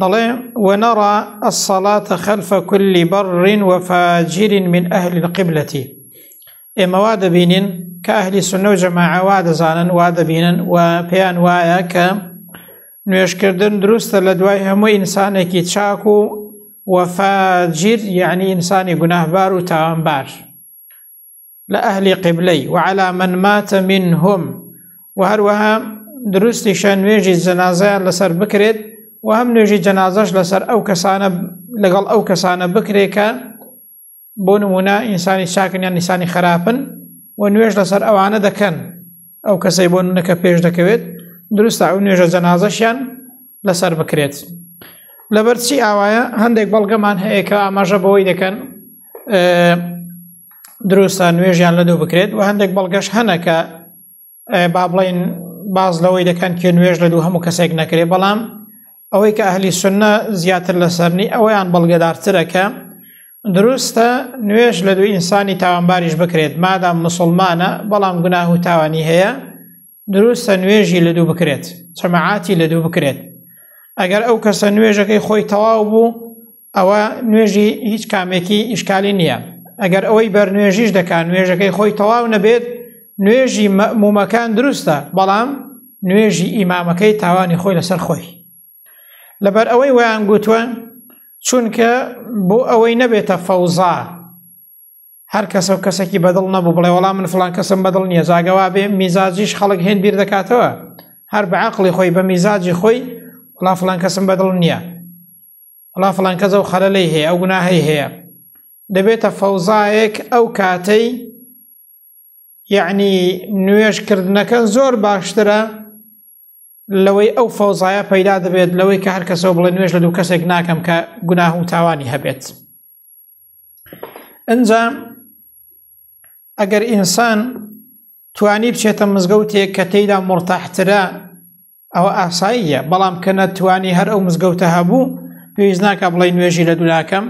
دەڵێ وەنەڕا ئەسەڵاتە خەلفە کولی بەڕڕین وەفاجیرین من ئەهلی القبلەتی ئێمە وا دەبینین کە ئەهلی سنە و جەماعە وا دەزانن وا دەبینن و پێیان وایە کە نوێشکردن دروستە لە دوای هەموو ئینسانێکی چاک و وەفاجیر یعنی ئینسانی گوناهبار و تاوانبار لە ئەهلی قبلەی وعلا من ماتە منهم و هەروەها دروستیشە نوێژی جەنازەیان لەسەر بکرێت و هەم نوێژی جەنازەش لەسەر ئەو کەسانە لەگەڵ ئەو کەسانە بکرێت کە بۆ نمونە ئینسانی چاکن یان نیسانی خراپن و نوێژ لەسەر ئەوانە دەکەن ئەو کەسەی بۆ نونەکە پێش دەکەوێت دروستە ئەو نوێژە جەنازەشیان لەسەر بکرێت لەبەرچی ئاوایە هەندێک بەڵگەمان هەیە کە ئاماژە بەوەی دەکەن دروستە نوێژیان لە دوو بکرێت و هەندێک بەڵگەش هەنەکە با بڵین باز لەوەی دەکەن کێ نوێژ لە دوو هەموو کەسێک نەکرێ بەڵام ئەوەی کە ئەهلی سنە زیاتر لە سەرنی ئەوەیان بەڵگەدارترەکە دروستە نوێش لە دوو ئینسانی تاوانباریش بکرێت مادام مسلمانە بەڵام گوناه و تاوانی هەیە دروستە نوێژی لە دوو بکرێت چەمەعاتی لە دوو بکرێت ئەگەر ئەو کەسە نوێژەکەی خۆی تەواو بوو ئەوە نوێژی هیچ کامێکی ئیشکالی نییە ئەگەر ئەوەی بەرنوێژیش دەکات نوێژەکەی خۆی تەواو نەبێت نوێژی مەمومەکان دروستە بەڵام نوێژی ئیمامەکەی تاوانی خۆی لەسەر خۆی لەبەر ئەوەی ویان گوتووە چونکە بۆ ئەوەی نەبێتە فەوزا هەر کەسە و کەسێکی بەدڵ نەبوو بڵێ وەڵام من فلان کەسم بەدڵ نییە زاگەوا بێ میزاجیش خەڵک هێن بیر دەکاتەوە هەر بە عقلی خۆی بە میزاجی خۆی وڵا فلان کەسم بەدڵ نییە وڵا فلان کەزە و خەلەلەی هەیە ئەو گوناهەی هەیە دەبێتە فەوزایەک ئەو کاتەی یعنی نوێژ کردنەکە زۆر باشترە لەوەی ئەو فەوزایە پەیدا دەبێت لەوەی کە هەر کەسەوە بڵێ نوێژ لە دوو کەسێک ناکەم کە گوناه و تاوانی هەبێت ئەجا ئەگەر ئینسان توانی بچێتە مزگەوتێک کە تێیدا مرتاحترە ئەوە ئاساییە بەڵام کە نەتوانی هەر ئەو مزگەوتە هەبوو پێویست ناکە بڵێ نوێژی لە دولاکەم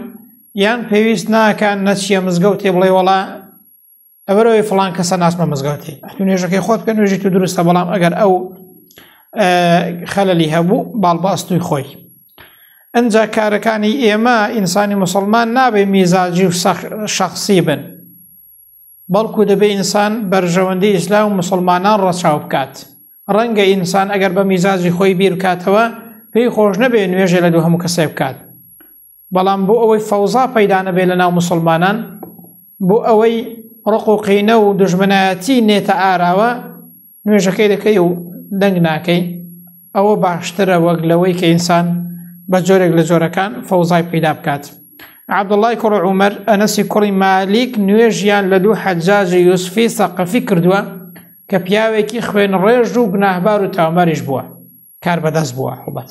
یان پێویست ناکە نەچیە مزگەوتێ بڵێ وڵا لەبەرەوەی فلان کەسە ناسمە مزگەوتی ئەتو نوێژەکەی خۆت بکە نوێژی تو دروستە بەڵام ئەگەر ئەو خەلەلی هەبوو باڵباستوی خۆی ئەجا کارەکانی ئێمە ئینسانی مسلمان نابێ میزاجی و شخصی بن بەڵکو دەبێ ئینسان بەرژەوەندی ئیسلا و مسلمانان ڕەچاو بکات ڕەنگە ئینسان ئەگەر بە میزاجی خۆی بیرکاتەوە پێی خۆش نەبێ نوێژێ لە دوو هەموو کەسێ بکات بەڵام بۆ ئەوەی فەوزا پەیدا نەبێت لە ناو مسلمانان بۆ ئەوەی ڕق و قینە و دژمنایەتی نێتە ئاراوە نوێژەکەی دەکەی و دەنگ ناکەی ئەوە باشترە وەک لەوەی کە ئینسان بە جۆرێک لە جۆرەکان فەوزای پیدا بکات عبدڵای کوڕ عومەر ئەنەسی کوڕی مالیک نوێژیان لە دوو حەجاجی یوسفی سەقەفی کردووە کە پیاوێکی خوێن ڕێژ و گناهبار و تاوماریش بووە کار بەدەست بووە هەڵبەت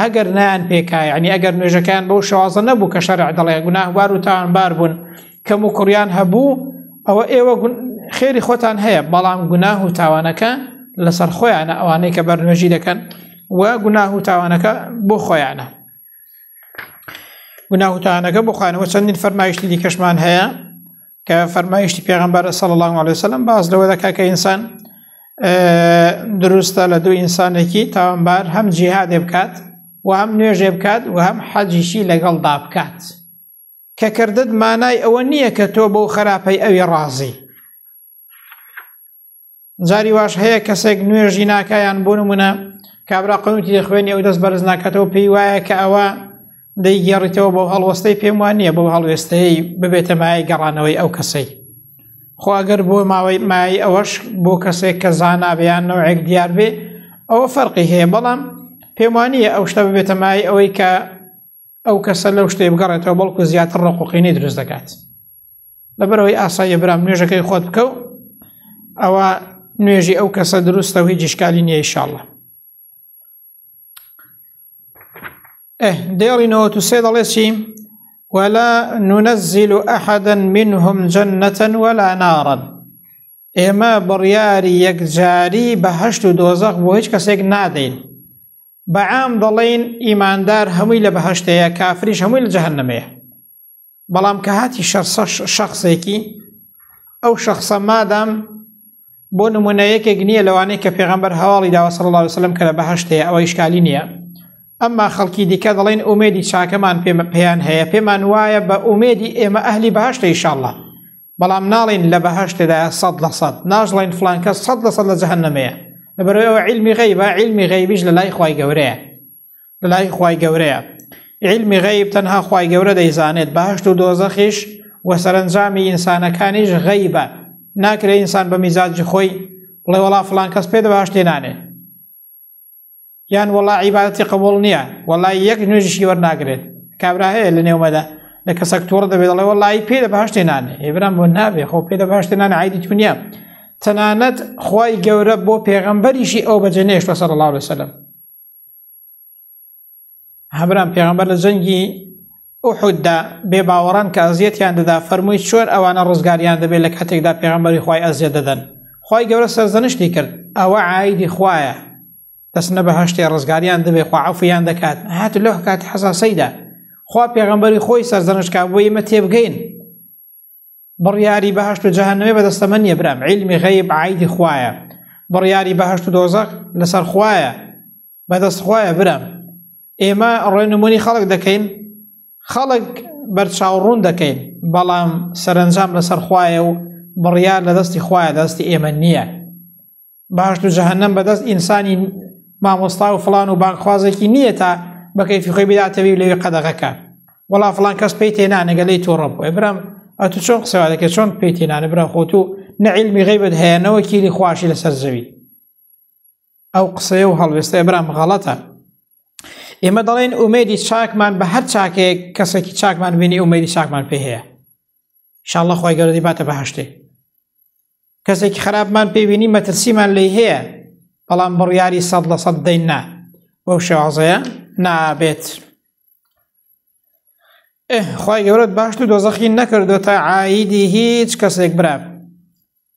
ئەگەر نایان پێکا یعنی ئەگەر نوێژەکەیان بەو شوازە نەبوو کە شەرع دەڵێ گوناهبار و تاوانبار بوون کەم و کوڕیان هەبوو ئەوە ئێوە خێری خۆتان هەیە بەڵام گوناه و تاوانەکە لەسەر خۆیانە ئەوانەی کە بەر نوێژی دەکەن و گوناه و تاوانەکە بۆ خۆیانە گوناه و تاوانەکە بۆ خۆیانەوە چەندین فەرمایشتی دیکەشمان هەیە کە فەرمایشتی پێغمبەر سەڵ الله عليه وسلم باز لەوە دەکا کە ئینسان دروستە لە دوو ئینسانێکی تاوانبار هەم جیهادێ بکات و هەم نوێژێ بکات و هەم حەجیشی لەگەڵدا بکات کە کردت مانای ئەوە نییە کە تۆ بەو خراپەی ئەوی ڕازی جاری واش هەیە کەسێک نوێژی ناکایان بۆ نمونە کابرا قەوتی دەخوێنی ئەو دەست بەرز ناکاتەوە پێی وایە کە ئەوە دەیگەڕیتەوە بۆ هەڵوەستەی پێم وان نییە بۆ هەڵوێستەیە ببێتە مایە گەڕانەوەی ئەو کەسەی خۆگەر بۆ ماوەی مای ئەوەش بۆ کەسێک کە زانابیان نەوەێک دیار بێ ئەوە فەرقی هەیە بەڵام پێمانە ئەو شتە ببێتە مای ئەوەی کە ئەو کەسە لەو شتێ بگەڕێتەوە بەڵکو زیاتر ڕقوقینەی دروست دەکات. لەبەرەوەی ئاساییە برام نوێژەکەی خۆت بکەو ئەوە نوێژی ئەو کەسە دروستە و هیچ جیشکالی نییە ئیشاءاللە دێڵی نەوە و سێ دەڵێ چی ولا ننزل أحدا منهم جنة ولا نارا ئێمە بڕیاری یەکجاری بە هەشت و دۆزەق بۆ هیچ کەسێک نادەین بەعام دەڵێن ئیماندار هەمووی لە بەهشتەیە کافریش هەمووی لە جەهنمەیە بەڵام کە هاتی شەرسە شخصێکی ئەو شخصە مادام بۆ نمونە یەکێک نییە لەوانەیە کە پێغمبەر هەواڵی داوە سەڵ الله وسلم کە لە بەهشتەیە ئەوە ئیشکالی نییە ئەمما خەڵکی دیکە دەڵێن ئومێدی چاکەمان پێمە پێیان هەیە پێمان وایە بە ئومێدی ئێمە ئەهلی بەهشتە ئیشاءله بەڵام ناڵین لە بەهشتدا سەد لە سەد ناژڵین فلانکە سەد لە سەد لە جەهنمەیە لەبەرەوە علمی غیبە علمی غیبیش لە لای خی گەورەیە لەلای خوای گەورەیە علمی غەیب تەنها خوای گەورە دەیزانێت باشت و دۆزەخیش و سەرنجامی ئینسانەکانیش غەیبە ناکرێ ئینسان بە میزاجی خۆی بڵێ وڵا فلان کەس پێ دەباشتێ نانێ یان وڵا عیباەتی قبول نییە وڵای یەک نوێژیشی وەرناگرێت کابرا هەیە لە نێومەدا لە کەسەک تۆڕ دەبێت دەڵێ وڵی پێ دە باشتێ نانێ ئێبرام بۆ نابێ خۆ پێ دە باشتێ نان عیدی تونیە تەنانەت خی گەورە بۆ پێغەمبەریشی ئەو بەجێ نێشتە سەر الله لەسەلم هەبران پێغمبەر لە جەنگی ئوحوددا بێ باوەڕان کە ئەزیەتیان دەدا فەرمووی چۆن ئەوانە ڕزگاریان دەبێت لە کاتێکدا پێغمبەری خی ئەزیە دەدەن خی گەورە سەرزەنشتی کرد ئەوە ئایدی خویە دەستنە بە هەشتێ ڕزگاریان دەبێ خواعفیان دەکات هات لە کات حەساسەیدا خوا پێغمبەری خۆی سەرزەنشکا بۆ ئمە تێبگەین بڕیاری بەهشت و جەهنمێ بەدەستەمە نیە برام علمی غیب عیدی خوایە بڕیاری بەهشت و دۆزەق لەسەر خوایە بەدەست خوایە برام ئێمە ڕێنمونی خەڵک دەکەین خەڵک بەرچاوڕوون دەکەین بەڵام سەرنجام لەسەر خوایە و بڕیار لە دەستی خوایە دەستی ئێمە نییە باشت و جەهنم بەدەست ئینسانی مامۆستا و فلان و بانخوازێکی نییە تا بەکەیفی خۆی بداتەوی و لەوێ قەدەغەکە وڵا فلان کەس پێی تێنانەگە لی تۆڕە بۆێ برم ئە تو چۆن قسەوا دەکە چۆن پێی تێنانە برا خۆت و نەعیلمی غیبت هەیەەوە کیلی خواشی لەسەر زەوی ئەو قسەیە و هەڵوێستە برام غەڵەتە ئێمە دەڵێن ئومێدی چاکمان بە هەر چاکێک کەسێکی چاکمان بینی ئومێدی چاکمان پێ هەیە شاءله خی گەردی باتە بەهشتێ کەسێکی خراپمان پێبینی مەترسیمان لی هەیە بەڵام بڕیاری سەد لە سەد دەین نا بەو شێوازەیە نابێت خی گەورەت باشت و دۆزەخی نەکردو تا عیدی هیچ کەسێک براب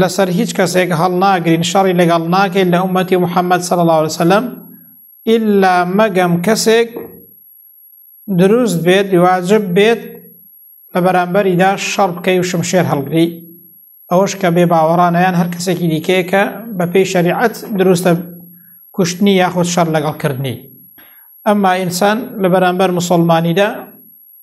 لەسەر هیچ کەسێک هەڵناگرین شەڕی لەگەڵ ناکەین لە ئومەتی محەممەد سەڵ الله وسلم ئللا مەگەم کەسێک دروست بێت واجب بێت لە بەرامبەریدا شەڕ بکەی و شمشێر هەڵگری ئەوەش کە بێ باوەڕانیان هەر کەسێکی دیکەیەکە بە پێی شەریعەت دروستە کوشتنی یاخود شەر لەگەڵ کردنی ئەمما ئینسان لە بەرامبەر مسلمانیدا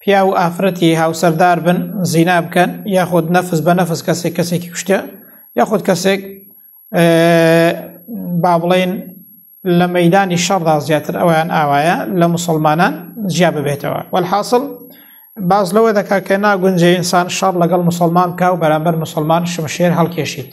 پیا و ئافرەتی هاوسەردار بن زینا بکەن یاخود نەفس بە نەفس کەسێک کەسێکی کوشتە یاخود کەسێک با بڵێن لە مەدانی شەڕدا زیاتر ئەویان ئاوایە لە مسلمانان جیا ببێتەوە وەحاصل باز لەوە دەکا کە ناگونجێ ئینسان شەڕ لەگەڵ مسلمان بکە و بەرامبەر مسلمان شمشێر هەڵکێشیت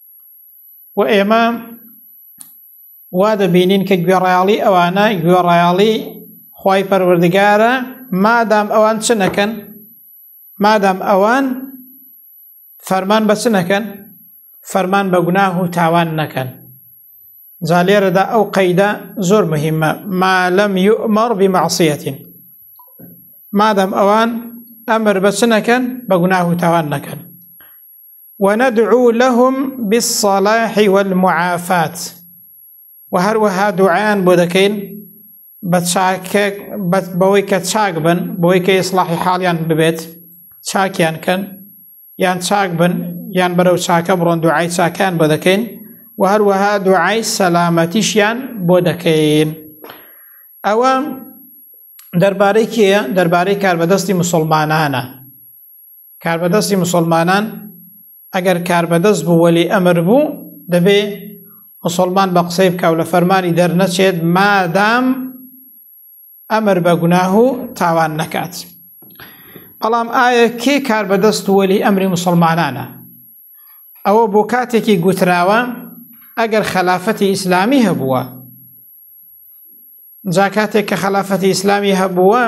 و ئێمە وا دەبینین کە گوێڕایاڵی ئەوانە گوێڕایاڵی خی پەروەردگارە مادام ئەوان چ نەکەن مادام ئەوان فەرمان بەچ نەکەن فەرمان بە گوناه و تاوان نەکەن جا لێرەدا ئەو قەیدە زۆر مهمە مالم یؤمەڕ بمەعسیەتین مادەم ئەوان ئەمر بەچ نەکەن بە گوناه و تاوان نەکەن وندعو لهم بالصلاح والمعافات و هەروەها دوعایان بۆ دەکەین بە چاکە بەوەی کە چاک بن بۆی کە ئیسلاحی حاڵیان ببێت چاکیان کەن یان چاک بن یان بەرەو چاکە بڕۆن دوعای چاکان بۆ دەکەین و هەروەها دوعای سەلامەتیشیان بۆ دەکەین ئەوە دەربارەی کێە دەربارەی کاربەدەستی مسلمانانە کاربەدەستی مسلمانان ئەگەر کاربەدەست بوو وەلی ئەمر بوو دەبێ مسلمان بە قسەی بکاو لە فەرمانی دەرنەچێت مادام ئەمر بە گوناه و تاوان نەکات بەڵام ئایا کێ کاربەدەست وەلی ئەمری مسلمانانە ئەوە بۆ کاتێکی گوتراوە ئەگەر خەلافەتی ئیسلامی هەبووە جا کاتێک کە خەلافەتی ئیسلامی هەبووە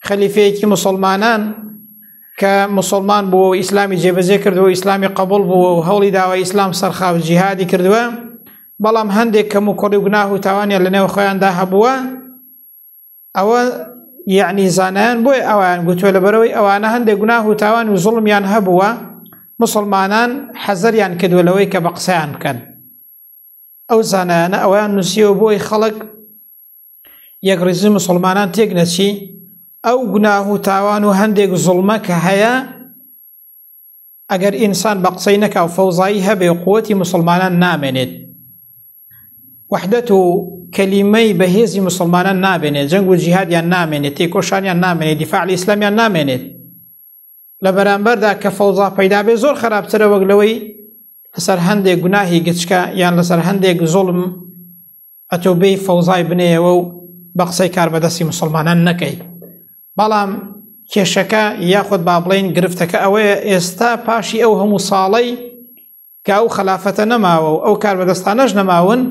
خەلیفەیەکی مسلمانان کە مسلمان بووە و ئیسلامی جێبەجێ کردو و ئیسلامی قبول بووە و هەوڵی داوە ئیسلام سەرخاو جیهادی کردووە بەڵام هەندێک کەم و کوڕی گوناه و تاوانیان لە نێو خۆیاندا هەبووە ئەوە یعنی زانیان بۆی ئەوان گوتووە لە بەرەوەی ئەوانە هەندێک گوناه و تاوان و زڵمیان هەبووە مسلمانان حەزەریان کردووە لەوەی کە بە قسەیان بکەن ئەو زانایانە ئەویان نووسیەوە بۆی خەڵک یەک ڕیزی مسلمانان تێک نەچی ئەو گوناه و تاوان و هەندێک زڵمە کە هەیە ئەگەر ئینسان بە قسەی نەکا و فەوزایی هەبێ و قوتی مسلمانان نامێنێت وحدەت و کەلیمەی بەهێزی مسلمانان نابێنێت جەنگ و جیهادیان نامێنێت تێکۆشانیان نامێنێت دیفاعلی ئیسلامیان نامێنێت لە بەرامبەردا کە فەوزا پەیدابێ زۆر خراپترە وەک لەوەی لەسەر هەندێک گوناهی گچکە یان لەسەر هەندێک زۆڵم ئەتۆبەی فەوزای بنێەوە و بە قسەی کاربەدەستی مسلمانان نەکەی بەڵام کێشەکە یاخود با بڵین گرفتەکە ئەوەیە ئێستا پاشی ئەو هەموو ساڵەی کە ئەو خلافەتە نەماوە و ئەو کاربەدەستانەش نەماون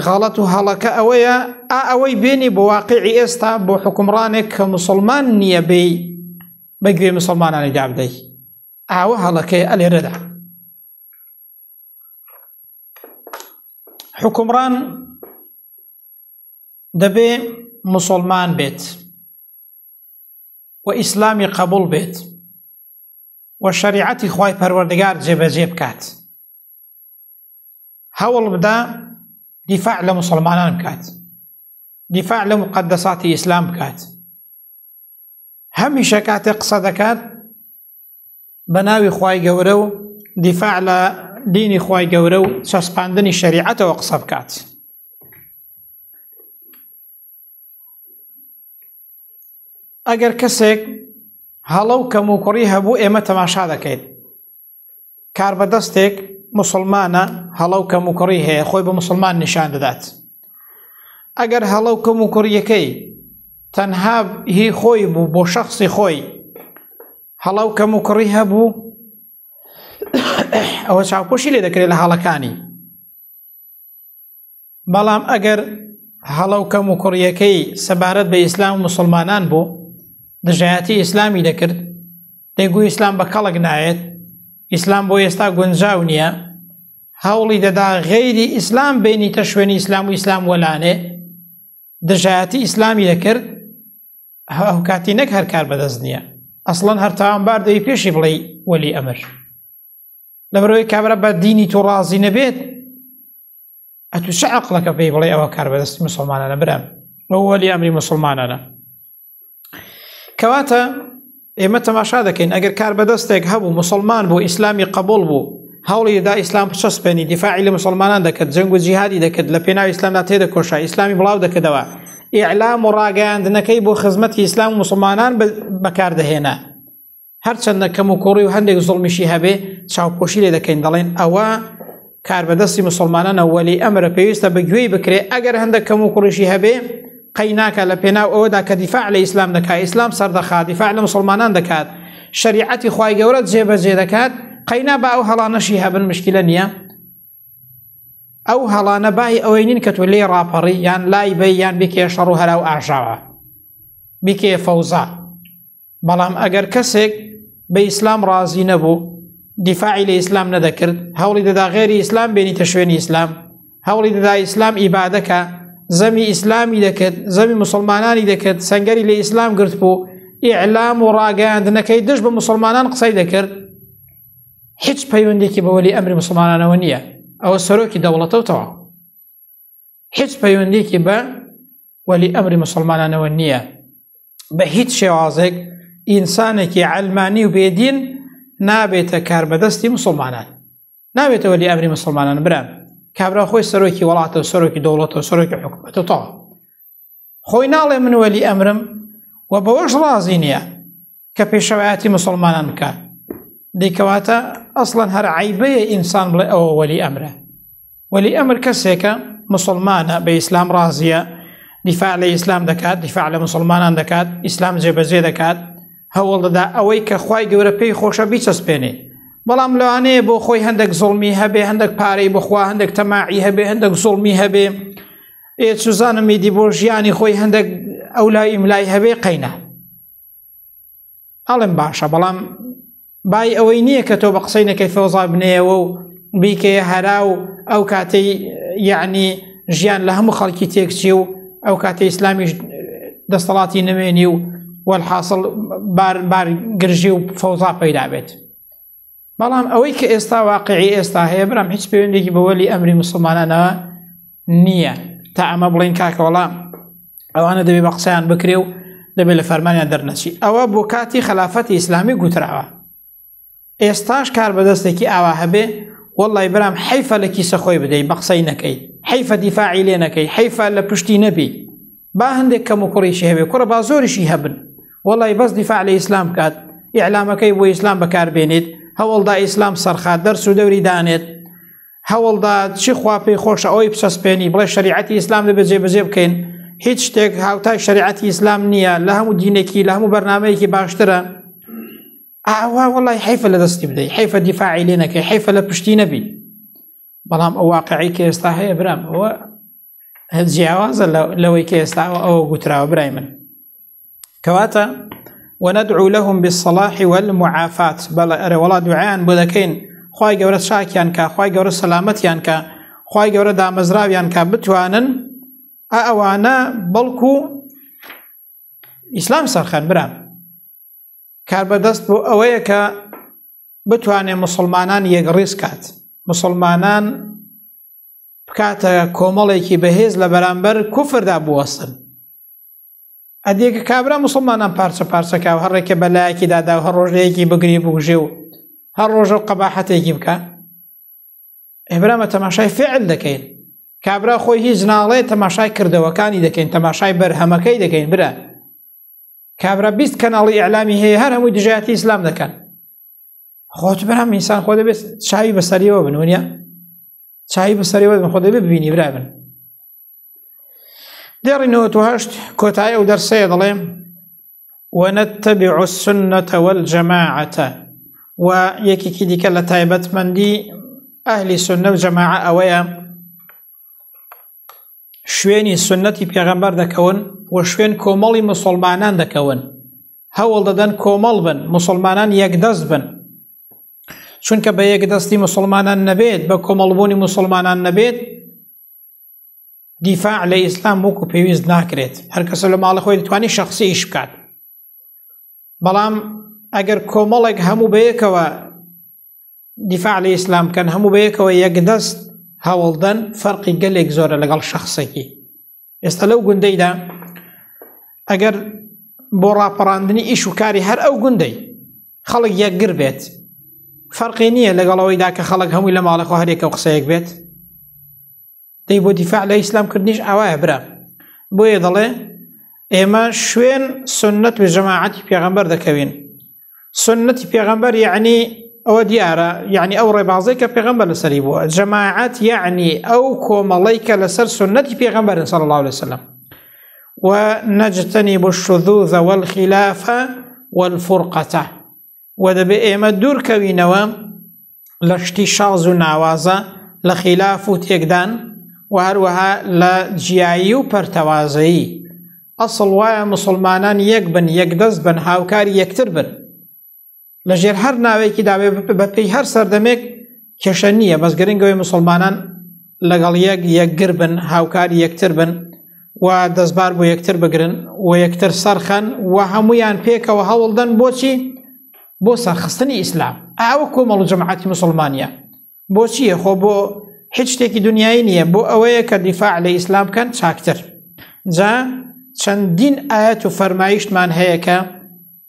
غەڵەت و هەڵەکە ئەوەیە ئا ئەوەی بێنی بۆ واقعی ئێستا بۆ حکومڕانێک کە مسلمان نییە بێی بە گوێ مسلمانانی دابدەی ئاوە هەڵەکەی ئەلێرەدا حکومڕان دەبێ مسلمان بێت و ئیسلامی قبول بێت و شریعەتی خی پەروەردگار جێبەجێ بکات هەوڵ بدا دیفاع لە مسلمانان بکات دیفاع لە مقدەساتی ئیسلام بکات هەمیشە کاتێ قسە دەکات بە ناوی خی گەورە و دیفاع لە دینی خی گەورە و چەسپاندنی شریعەتەوە قسە بکات ئەگەر کەسێک هەڵە و کەم و کوڕی هەبوو ئێمە تەماشا دەکەیت کاربەدەستێک مسلمانە هەڵە و کەموکڕی هەیە خۆی بە مسلمان نیشان دەدات ئەگەر هەڵە و کەموکڕیەکەی تەنها هی خۆی بوو بۆ شخصی خۆی هەڵە و کەموکڕی هەبوو ئەوە چاوپۆشی لێ دەکرێت لە هەڵەکانی بەڵام ئەگەر هەڵە و کەم و کوڕیەکەی سەبارەت بە ئیسلام و مسلمانان بوو دژایەتی ئیسلامی دەکرد دەگو ئیسلام بە کەڵک نایەت ئیسلام بۆ ئێستا گونجاو نییە هەوڵی دەدا غەیری ئیسلام بینیتە شوێنی ئیسلام و ئیسلام وەلانێ دژایەتی ئیسلامی دەکرد ئەو کاتی نەک هەر کار بەدەست نییە ئەسڵەن هەر تاوانبار دەی پێشی بڵێ وەلی ئەمر لەبەرەوەی کابرا بە دینی تۆ ڕازی نەبێت ئەتو چ عقلەکە پێی بڵێ ئەوە کار بەدەستی مسلمانانە برام بەوەلی ئەمری مسلمانانە کەواتە ئێمە تەماشا دەکەین ئەگەر کار بەدەستێک هەبوو مسلمان بۆ ئیسلامی قبول بوو هەوڵی دا ئیسلام پچەسپێنی دیفاعی لە مسلمانان دەکرد جەنگ و جیهادی دەکرد لە پێناو ئیسلامدا تێدە کۆشا ئیسلامی بڵاو دەکردەوە ئیعلام و ڕاگەیاندنەکەی بۆ خزمەتی ئیسلام و مسلمانان بەکاردەهێنا هەرچەندە کەم و کوڕی و هەندێک زڵمیشی هەبێ چاوپۆشی لێ دەکەین دەڵێن ئەوە کاربەدەستی مسلمانانە وەلی ئەمرە پێویستە بە گوێی بکرێ ئەگەر هەندێک کەم و کوڕیشی هەبێ قەی ناکە لە پێناو ئەوەدا کە دیفاع لە ئیسلام دەکات ئیسلام سەردەخات دیفاع لە مسلمانان دەکات شریعەتی خی گەورە جێبەجێ دەکات قەینا با ئەو هەڵانەشی هەبن مشکلە نییە ئەو هەڵانە بای ئەوەی نین کە تۆ لێ ڕاپەڕی یان لای بە یان بکێ شەڕ و هەرا و ئاژاوە بکێ فەوزا بەڵام ئەگەر کەسێک بە ئیسلام ڕازی نەبوو دیفاعی لە ئیسلام نەدەکرد هەوڵی دەدا غێری ئیسلام بێنیتە شوێنی ئیسلام هەوڵی دەدا ئیسلام ئیبادەکە زەمی ئیسلامی دەکرد زەمی مسلمانانی دەکرد سنگەری لە ئیسلام گرت بوو ئیعلام و ڕاگەاندنەکەی دژ بە مسلمانان قسەی دەکرد هیچ پەیوەندێکی بەوەلی ئەمری مسلمانانەوە نییە ئەوە سەرۆکی دەوڵەتەوتەوە هیچ پەیوەندێکی بە وەلی ئەمری مسلمانانەوە نییە بە هیچ شێوازێک ئینسانێکی ئەلمانی و بێدین نابێتە کار بەدەستی مسلمانان نابێتە وەلی ئەمری مسلمانان برام کابرا خۆی سەرۆکی وڵاتە و سەرۆکی دەوڵەتە و سەرۆکی حکوومەتەوە خۆی ناڵێ من وەلی ئەمرم و بەوەش ڕازی نییە کە پێشەوایەتی مسلمانان بکات دیکەواتە ئەسڵەن هەر عیبەیە ئینسان بڵێ ئەوە وەلی ئەمرە وەلی ئەمر کەسێکە مسلمانە بە ئیسلام ڕازیە دیفاع لە ئیسلام دەکات دیفاع لە مسلمانان دەکات ئیسلام جێبەجێ دەکات هەوڵ دەدا ئەوەی کە خی گەورە پێی خۆشە بیچەسپێنێ بەڵام لەوانەیە بۆ خۆی هەندێک زڵمی هەبێ هەندێک پارەی بخوا هەندێک تەماعی هەبێ هەندێک زڵمی هەبێ ئێ سوزانم میدی بۆ ژیانی خۆی هەندێک ئەو لای ئیملای هەبێ قەینە ئەڵم باشە بەڵام بای ئەوەی نییە کە تۆ بە قسەی نەکەی فۆزا بنەیەوە و بیکەیە هەرا و ئەو کاتەی یعنی ژیان لە هەموو خەڵکی تێکچی و ئەو کاتە ئیسلامیش دەستەڵاتی نمێنی و وەحاصل بار بار گرژی و فەوزا پەیدا بێت بەڵام ئەوەی کە ئێستا واقعی ئێستا هەیە برام هیچ پەیوەندێکی بە وەلی ئەمری مسلمانانەوە نییە تا ئەمە بڵین کاکە وەڵام ئەوانە دەبێ بە قسەیان بکرێ و دەبێت لە فەرمانیان دەرنەچی ئەوە بۆ کاتی خلافەتی ئیسلامی گوتراوە ئێستاش کار بەدەستێکی ئاوا هەبێ واللهی برام حیفە لە کیسە خۆی بدەیت بە قسەی نەکەی حیفە دیفاعی لێ نەکەی حیفە لە پشتی نەبی با هەندێک کەم و کوڕیشی هەبێ کوڕە با زۆریشی هەبن وڵی بەس دیفاع لە ئیسلام کات ئیعلامەکەی بۆ ئیسلام بەکاربێنێت هەوڵدا ئیسلام سەرخا دەرس و دەوری دانێت هەوڵدا چی خواپی خۆشە ئەوی پسەسپێنی بڵێ شریعەتی ئیسلام لە بەجێ بەجێ بکەین هیچ شتێک هاوتای شریعەتی ئیسلام نییە لە هەموو دینێکی لە هەموو بەرنمەیەکی باشترە ئاوا وڵی حیفە لە دەستی بدەیت حیفە دیفاعی لێ نەکەی حیفە لە پشتی نەبی بەڵام ئەو واقعی کە ئێستا هەیە برام ئەوە جیاوازە لەوەی کە ئێستا ئەوە گوتراوە برای من کەواتە وەنەدعو لەهم بسەڵاحی وەل معافات بەڵێ ئەرە وڵات دوعیان بۆ دەکەین خی گەورە چاکیان کا خی گەورە سەلامەتیان کا خی گەورە دامەزراویان کا بتوانن ئەوانە بەڵکو ئیسلام سەرخەن برام کاربەدەست بۆ ئەوەیە کە بتوانێت مسلمانان یەکڕیز کات مسلمانان بکاتە کۆمەڵێکی بەهێز لە بەرامبەر کوفردا بوەستن ئەدیێکە کابرا مسلمانان پارچە پارچەکە و هەڕێکە بەلایەکی دادا و هەر ڕۆژەیەکی بگری بگوژێ و هەر ڕۆژە و قەباحەتێکی بکە ئێبرامە تەماشای فعل دەکەین کابرا خۆی هیچ ناڵێ تەماشای کردەوەکانی دەکەین تەماشای بەرهەمەکەی دەکەین برا کابرا بیست کەناڵی ئەعلامی هەیە هەر هەمووی دژایەتی ئیسلام دەکەن خۆت برام ئینسان خۆ دەبێت چاوی بەسەریەوە بن ونە چاوی بەسەریەوە بن خۆ دەبێت ببینی برا بن دێڕینەوە توهشت کۆتای ئەو دەرسەیە دەڵێم ونتبع السنة والجماعة و یەکێکی دیکە لە تایبەتمەندی ئەهلی سنە و جەماعە ئەوەیە شوێنی سنەتی پێغەمبەر دەکەون و شوێن کۆمەڵی مسلمانان دەکەون هەوڵ دەدەن کۆمەڵ بن مسلمانان یەکدەست بن چونکە بە یەکدەستی مسلمانان نەبێت بە کۆمەڵبوونی مسلمانان نەبێت دیفاع لە ئیسلام وەکو پێویست ناکرێت هەرکەسە لە ماڵە خۆی دەتوانانی شخصی ئیش بکات بەڵام ئەگەر کۆمەڵێک هەموو بەیەکەوە دیفاع لە ئیسلام بکەن هەموو بەیەکەوە یەک دەست هەوڵدەن فەرقی گەلێک زۆرە لەگەڵ شخصێکی ئێستا لەو گوندەیدا ئەگەر بۆ ڕاپەڕاندنی ئیش و کاری هەر ئەو گوندەی خەڵک یەکگر بێت فەرقی نییە لەگەڵەوەیدا کە خەڵک هەمووی لە ماڵەخۆ هەرێکە و قسەیەک بێت دەی بۆ دیفاع لە ئیسلام کردنیش ئاوایە برا بۆیە دەڵێ ئێمە شوێن سنت و جەماعەتی پێغەمبەر دەکەوین سنتی پێغەمبەر یعنی ئەوە دیارە یعنی ئەو ڕێبازی کە پێغمبە لەسەری بووە جەماعات یعنی ئەو کۆمەڵی کە لەسەر سنەتی پێغمبەر سەڵ الله لەسلم و نەجتنی بۆ شذوذەوەل خلافە والفرقەتە و دەبێ ئێمە دوورکەوینەوە لە شتی شاز و ناوازە لە خیلاف و تێکدان و هەروەها لە جیایی و پەرتەوازەیی ئەسڵ وایە مسلمانان یەک بن یەک دەست بن هاوکاری یەکتر بن لەژێر هەر ناوێکی داوێ بەپی هەر سەردەمێک کێشە نییە بەس گرنگەوەی مسلمانان لەگەڵ یەک یەکگر بن هاوکار یەکتر بن و دەستبار بۆ یەکتر بگرن و یەکتر سەرخەن و هەمویان پێکەوە هەوڵدەن بۆچی بۆ سەرخستنی ئیسلام ئاوە کۆمەڵ و جەماعەتی مسلمانە بۆچیە خۆ بۆ هیچ شتێکی دنیای نییە بۆ ئەوەیە کە دیفاع لە ئیسلام بکەن چاکتر جا چەندین ئاەت و فەرمایشتمان هەیە کە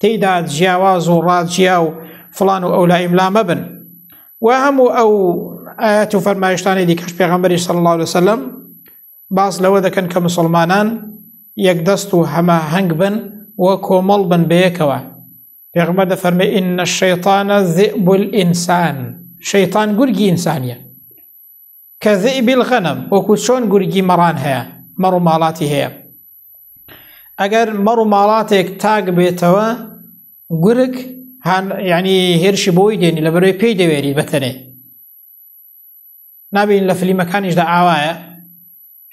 تێیدا جیاواز و ڕاجیا و فڵان و ئەولا ئیملا مەبن و هەموو ئەو ئاەت و فەرمایشتانی دیکەش پێغەمبەری سەڵ الله وسلم باس لەوە دەکەن کە مسلمانان یەک دەست و هەمە هەنگ بن و کۆمەڵ بن بەیەکەوە پێغمە دەفەرمە ئینە شەیطانە زئبول ئینسان شەیطان گورگی ئینسانیە کە ذئب الغنم وەکو چۆن گورگی مەڕان هەیە مەڕ و ماڵاتی هەیە ئەگەر مەڕ و ماڵاتێک تاک بێتەوە گورگ ینی هێرشی بۆی دێنی لە بەرەوەی پێی دەوێری بەتەنێ نابین لە فلیمەکانیشدا ئاوایە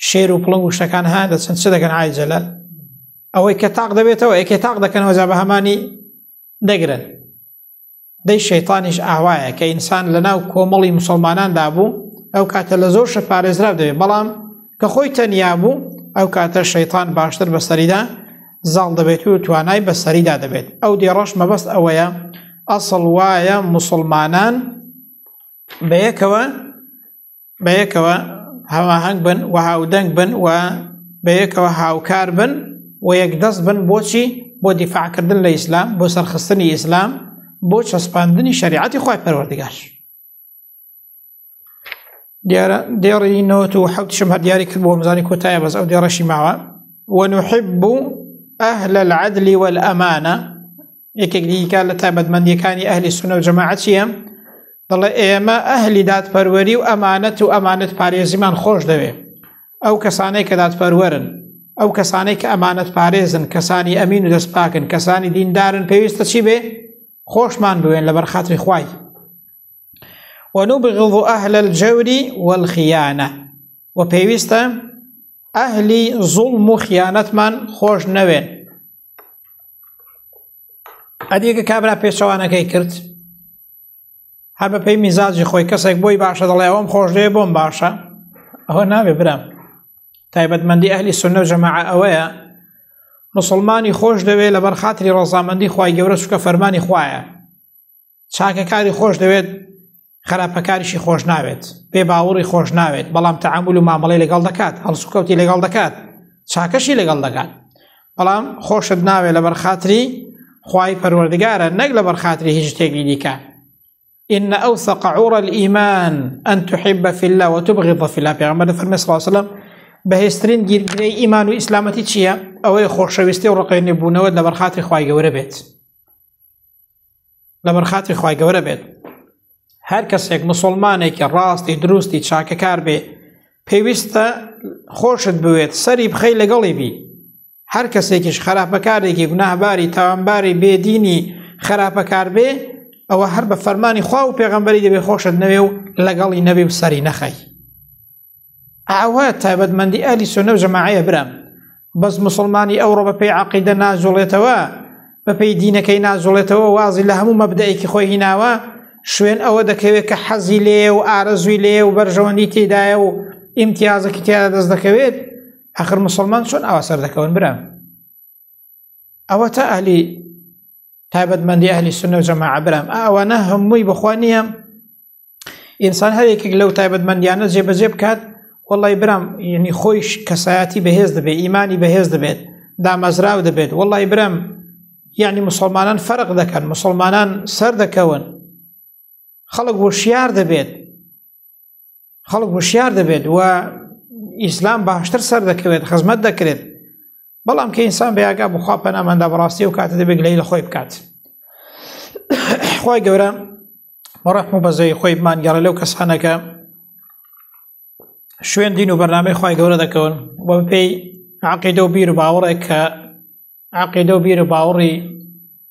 شێر و پڵنگ و شتەکان ها دەچەند چ دەکەن ئایجەلە ئەوەی کە تاق دەبێتەوە یەکێ تاق دەکەنەوە جا بە هەمانی دەگرن دەی شەیتانیش ئاوایە کە ئینسان لە ناو کۆمەڵی مسلماناندا بوو ئەو کاتە لە زۆر شە پارێزرا دەوێت بەڵام کە خۆی تەنیا بوو ئەو کاتە شەیتان باشتر بە سەریدا زاڵ دەبێت و توانای بە سەریدا دەبێت ئەو دێڕەش مەبەست ئەوەیە ئەسڵ وایە مسلمانان بەیەکەوە بەیەکەوە هەواهەنگ بن و هاودەنگ بن و بەیەکەوە هاوکار بن و یەکدەست بن بۆچی بۆ دیفاعکردن لە ئیسلام بۆ سەرخستنی ئیسلام بۆ چەسپاندنی شریعەتی خۆی پەروەردگار دیارە دێڕی نەوەت و حەوتشم هەر دیاری کرد بۆ مزانی کۆتایە بەس ئەو دێڕەشی ماوە ونحب أهل العدل والأمانة یەکێک دیکە لە تایبەتمەندیەکانی ئەهلی سونە و جەماعەت چییە؟ دەڵێ ئێمە ئەهلی دادپەروەری و ئەمانەت و ئەمانەت پارێزیمان خۆش دەوێ ئەو کەسانەی کە دادپەروەرن ئەو کەسانەی کە ئەمانەت پارێزن کەسانی ئەمین و دەست پاکن کەسانی دیندارن پێویستە چی بێ خۆشمان بوێن لە بەرخاتری خوای ونبغض أهل الجور والخيانة وبيويستا أهل ظلم خيانة من خوش نوين ئەدیگە کابرا پێچەوانەکەی کرد هەر بە پێی میزاجی خۆی کەسێک بۆی باشە دەڵێ ئەوم خۆشێ بۆم باشە ئەوە ناوێ برام تایبەتمەندی ئەهلی سنە جەماع ئەوەیە مسلمانی خۆش دەوێت لەبەر خاتری ڕزامەندی خی گەورە شکە فەرمانی خویە چاکەکاری خۆش دەوێت خراپەکاریشی خۆش ناوێت پێ باوەڕی خۆش ناوێت بەڵام تەعامل و مامەڵی لەگەڵ دەکات هەڵسوکەوتی لەگەڵ دەکات چاکەشی لەگەڵ دەکات بەڵام خۆشت ناوێت لە بەرخاتری خی پەروەردگارە نەک لە بەرخاتری هیچ شتێکی دیکە إن أوثق عور الإيمان أن تحب في الله وتبغض في الله پیغمبر فرمي صلى الله عليه وسلم بەهێسترین گیرگرەی ئیمان و ئیسلامەتی چییە؟ ئەوەی خۆشەویستی و ڕقێنێ بوونەوە لە بەرخاتری خی گەورە بێت. لەبەر خاتری خی گەورە بێت هەر کەسێک مسلمانێکی ڕاستی دروستی چاکەکار بێ پێویستە خۆشت بوێت سەری بخەی لەگەڵی بی هەر کەسێکیش خراپەکارێکی گوناهباری تاوانباری بێدینی خراپەکار بێ ئەوە هەر بە فەرمانی خوا و پێغمبەری دەبێ خۆشت نەوێ و لەگەڵی نەبێ و سەری نەخەی ئاوا تایبەتمەندی ئەهلی سوننە و جەماعەیە برام، بەس موسڵمانی ئەوڕۆ بەپێی عەقیدە ناجوڵێتەوە، بەپێی دینەکەی ناجوڵێتەوە وازی لە هەموو مەبدەئێکی خۆی هیناوە، شوێن ئەوە دەکەوێت کە حەزی لێیە و ئارەزووی لێیە و بەرژەوەندی تێیدایە و ئیمتیازەکی تیادا دەست دەکەوێت، ئاخر موسڵمان چۆن ئاوا سەردەکەون برام؟ ئەوە تا ئەهلی تایبەتمەندی ئەهلی سوننە و جەماعە برام، ئەوانە هەمووی بەخوا نییە ئینسان هەر یەکێک لەو تایبەتمەندیانە جێبەجێ بکات وڵی برام یعنی خۆیش کەسایەتی بەهێز دەبێت ئیمانی بەهێز دەبێت دامەزراو دەبێت وڵی برم یعنی مسلمانان فەرق دەکەن مسلمانان سەر دەکەون خەڵک وشیار دەبێت خەڵک وشیار دەبێت و ئیسلام باشتر سەر دەکەوێت خزمەت دەکرێت بەڵام کە ئینسان بەیاگا بخوا پەناماندا بەڕاستی و کاتە دەبێت لەی لە خۆی بکات خی گەورە بەڕەحم و بەزەی خۆی مانگەڕە لەو کەسانەکە شوێن دین و بەرنامەی خی گەورە دەکەون بۆ پێی عقیدە و بیر و باوەڕێک کە عقیدە و بیر و باوەڕی